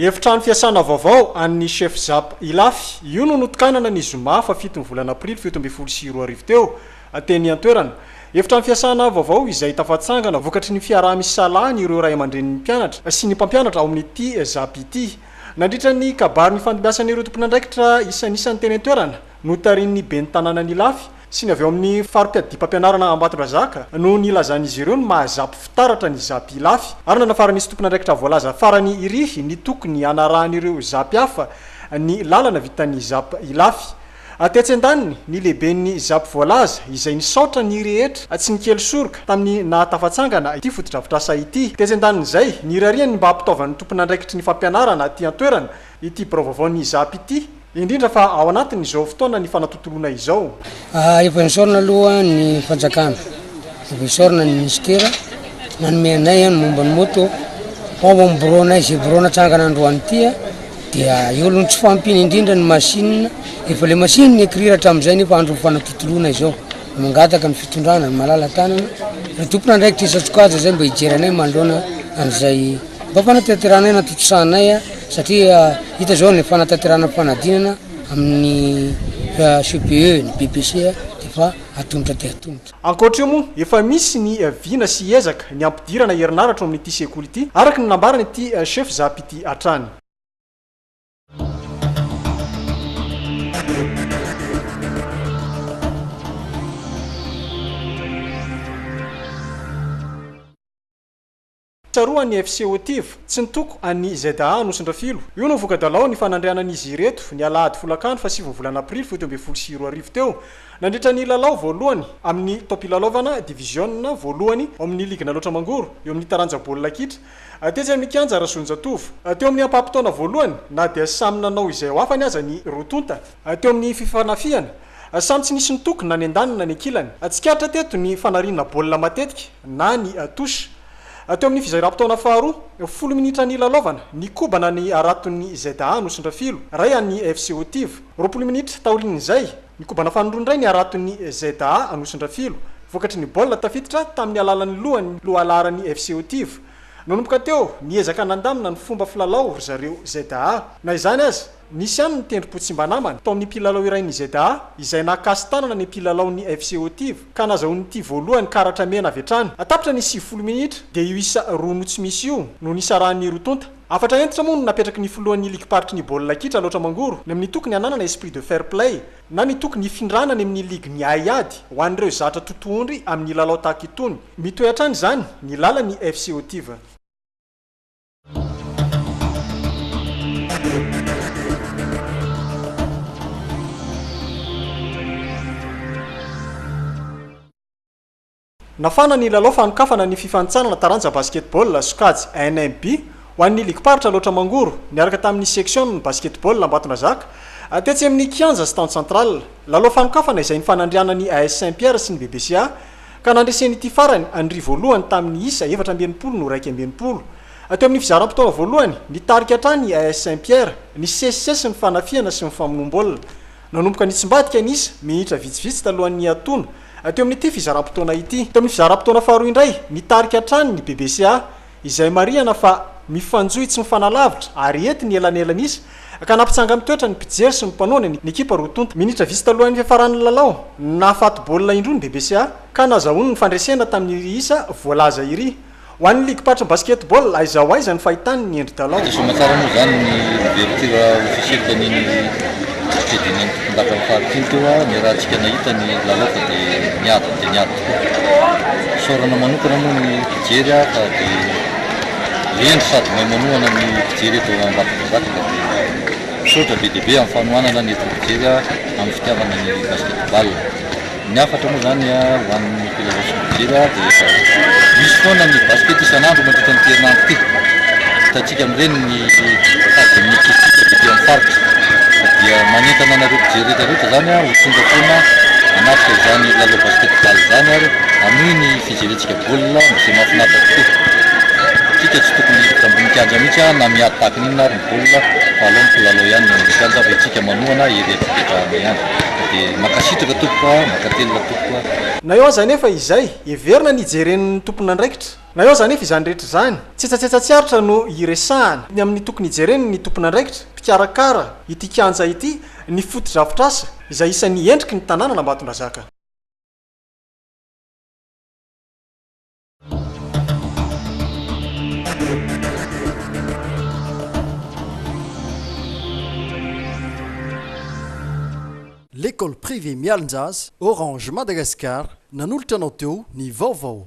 Efitrano fiasana vaovao an'ny Chef Zap Ilafy. Io no notokanana ny zoma faha fito ny volana aprily fito ambin'ny folo sy roa arivo teo, teny an-toerana. Efitrano fiasana vaovao izay tafatsangana vokatry ny fiaraha-misalahan'ireo ray aman-drenin'ny mpianatra sy ny mpampianatra ao amin'ity Zap ity. Nandritra ny kabary nifandimbiasan'ireo tompon'andraikitra isanisany teny an-toerana, notarihin'ny ben'ny tanànan'Ilafy sy ny avy ao amin'ny faripiadiam-pampianarana Ambatondrazaka no nilazan'izy ireo ny maha Zap fitaratra ny Zap Ilafy ary nanafaran'izy tompon'andraikitra voalaza farany irihy ny tokony hanarahan'ireo Zap hafa ny lalana vitan'ny Zap Ilafy Tetsy an-daniny, ny lehiben'ny Zap voalaza, izay nisaotra ny rehetra tsy nikely soroka tamin'ny nahatafatsangana ity fotodrafitrasa ity. Tetsy an-danin'izay, nirariany ny mba hampitaovan'ny tompon'andraikitry ny fampianarana aty an-toerana ity birao vaovaon'ny Zap ity, indrindra fa ao anatin'izao fotoana nifanatontoloana izao. Efa nisaorana aloha ny fanjakana. Professor ny Minisitera nanome anay ny momba ny moto fa ao amin'ny birao anay izay birao natsangana androany ity dia eo aloha ny tsy fahampiana indrindra ny machine efa le machine ny écrire hatramin'izay nefa andro fanatotoloana izao mangataka ny fitondrana ny malala tanana ny tompon'andraikitra isan-tsokajy izay mba hijery anay manoloana an'izay mba fanatanterana aina tontosahanay satria hita izao ny fanatanterana fanadinana amin'ny CPE ny BPC dia efa atolotra dia atolotra. Ankoatra io moa, efa misy ny vina sy ezaka ny hampidirana herinaratra ao amin'ity sekoly ity, araka ny nambaran'ity Chef Zap ity hatrany. Tsaroan' ny FC Otiv, tsy nitoko an' ny ZA Anosindrafilo. Io no voka-dalao ny fanandrianan' izy ireto, ny alahady folakandro fahasivy ny volana aprily fito ambin'ny folo sy roa arivo teo, nandritra ny lalao voalohany amin' ny taom-pilalaovana diviziona voalohany ao amin' ny Ligy Nalaotra Mangoro eo amin' ny taranja baolina kitra, tetsy amin' ny kianja Rasoanjatovo. Teo amin' ny ampaham-potoana voalohany, na dia samy nanao izay ho afany aza ny roa tonta, Teo amin'ny fifanafihana, samy tsy nisy nitoky na ny an-daniny na ny an-kilany. Tsikaritra teto ny fanariana baolina matetika na ny touche. Teo amin'ny fizairam-potoana faharoa, folo minitra nilalaovana, nikobana ny haraton'ny ZA nosindrafilo, iray an'ny FC Otiv. Roapolo minitra taorian'izay, nikobana fanindroa indray ny haraton'ny ZA nosindrafilo. Vokatry ny baolina tafiditra tamin'ny alalan'ny lohany no alaharan'ny FC Otiv. Nanomboka teo, niezaka nandamina ny fomba filalao ry zareo ZA. Na izany aza, Nisy ihany ny tendrom-po tsy mba namana tao amin'ny mpilalao iray ny ZA izay nahakasi-tanana ny mpilalaon'ny FC Haut-Iva ka nazahoany ity voalohany karatra mena avy hatrany. Tapitra ny sivifolo minitra dia io isa roa no tsy misy io no nisarahan'ny roa tonta. Hafatra hentitra moa no napetraky ny filohan'ny ligim-paritry ny baolina kitra Alaotra Mangoro ny amin'ny toky ny hananana esprit de fair play na ny toky ny hifindrana any amin'ny ligy miahy ady ho an'ireo zatra totohondry amin'ny lalao tahaka itony. Mitohy hatrany izany ny lalan'ny FC Haut-Iva. Nafana ny lalao fanokafana ny fifanintsanana taranja basketball sokajy NMB ho an'ny ligim-paritra Alaotra Mangoro niaraka tamin'ny section-n'ny basketball Ambatondrazaka tetsy amin'ny kianja Stand Central. Lalao fanokafana izay nifanandrianan'ny AS Saint Pierre sy ny BBCA Ka nandresen'ity farany an'i Ry voalohany tamin'ny isa efatra amby enimpolo no iraika amby enimpolo. Teo amin'ny fizaram-potoana voalohany, nitarika hatrany ny AS Saint Pierre, nisesisesy ny fanafihana sy ny famonoam-baolina. Nanomboka nitsimbadika ny isa, minitra vitsivitsy talohan'ny hiatoana, teo amin'ity fizaram-potoana ity. Teo amin'ny fizaram-potoana faharoa indray, nitarika hatrany ny BBCA. izay marihana fa mifanjohy tsy mifanalavitra ary hety ny elanelan'isa ka nampitsanga amin'ny toetra ny mpijery sy ny mpanohana ny ekipa roa tonta. Minitra vitsy talohan'ny fiafaran'ny lalao, nahafaty baolina indroa ny BBCA ka nazahoany ny fandresena tamin'iry isa voalaza iry. Ho an'ny ligim-paritry ny basketball, aiza ho aiza ny fahitany ny endri-dalao? Azo soamaina tsara moa izany ny ouverture officielle tamin'iny stadium-n'ny tompondaka fahatelo teo, ny raha antsika nahita ny lalao fa dia niady dia niady. Fisaorana manokana moa ny mpijery aho fa dia lendry sady mahay manohana ny mpijery eto Ambatondrazaka ka dia misaotra be dia be amin'ny fanohanana ny hevitry ny mpijery amin'ny fitiavana ny basketball. Ny hafatra moa izany ho an'ny mpilalao sy ny mpijery dia misy foana ny basket isan'andro mandritra an'ity herinandro ity. Hitantsika amin'ireny ny Ny mitady ny mety ho hita avy ety amin'ny faritra dia manentana anareo mpijery rehetra rehetra izany ho tonga foana hanatrika izany lalao basket ball izany ary hanohy ny fijerentsika baolina izay mahafinaritra tokoa. Isika tsy tokony hiditra ambony kianja mihitsy na miady tahaka ny inona ary ny baolina fa aleo mikilalao ihany ny eny amin'ny kianja fa isika manohana ery an-toketrano ihany. Dia mankasitraka tompoko a! Mankatelina tompoko a! Na eo aza anefa izay, heverina ny hijeren'ny tomponandraikitra Na eo aza anefa izany rehetra izany, tsetsatsetsa tsy aritra no iresahana. Ny amin'ny tokony hijereny ny tompon'andraikitra, mpikarakara, ity kianja ity, ny fotodrafitrasa, izay isan'ny endriky ny tanànan'Ambatondrazaka. L'ecole privée Mialonjaza, Orange Madagascar, nanolotra anao teo ny vaovao.